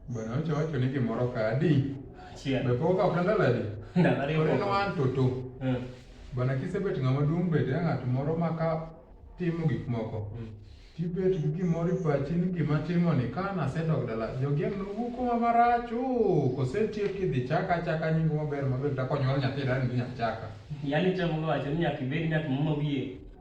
Bwana wacho wacho ni gimoro ka adi? Achiel. Be pok ok ndalo adi? Ndalo ariyo. Ore no an toto. Mm. Bwana kisebet ng'ama duong' bed ya ng'at moro ma ka timo gik moko. Mm. Tibet gi gimoro ipachi ni gima timo ni ka nasedok dala jogeng' nowuo kuma marach oo kosetiek idhi chaka achaka nyingo maber maber takonyuol nyathi dani ni achaka. Yaani temo wacho ni nyaka ibed ng'at muma wiye.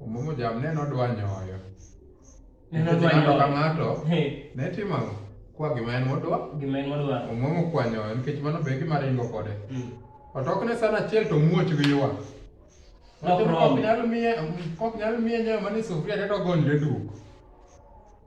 Umumu jam ne nodwa nyoyo. Ne nodwa nyoyo. Ng'ato ng'ato ne timo ang'o? Kwa gima en modwa. Gima en modwa. Umumu kwa nyoyo nikech mano be gima ringo kode. Mm. Otok ne sana achiel to muoch gi ywa. Kok nyalo miye kok nyalo miye nyoyo mane sufria to gonle duk.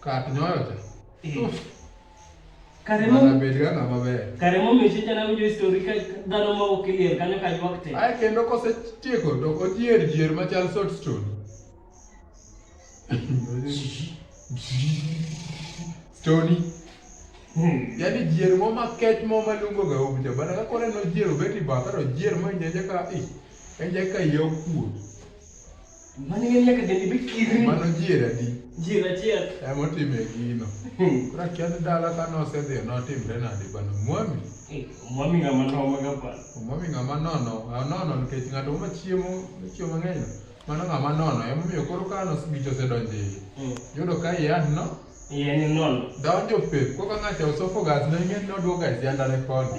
Kar nyoyo cha. Eh. Uff. Karemo. Mana bed ga ng'ama ber. Karemo miche jana winjo histori ka dhano ma ok liel kanyo ka ywak te. Ae kendo kosetieko to ojier jier machal salt stone. Stony. Hmm. Yaani jier mo ma kech mo ma lungo ga umja bana ka kore no jier obeti bataro jier mo nyeje ka i. Enje ka yo kuo. Mano ng'e nyaka dendi be kirni. Mano jier adi? Jier achiel. Ema otime gino. Hmm. Koro akia ni dala ka nosedhi notimre nade bana mwami. Eh, mwami ng'ama nono ga pa. Mwami ng'ama nono, nono nikech ng'ato ma chiemo, chiemo mang'eny. Mano ng'ama nono, ema omiyo koro ka gicho osedonjo iye. Hmm. Yudo ka iye no iye ni nono. Donjo pe, koro ka ng'ato osofo gas ne ing'e ni oduogo e sianda ne koni.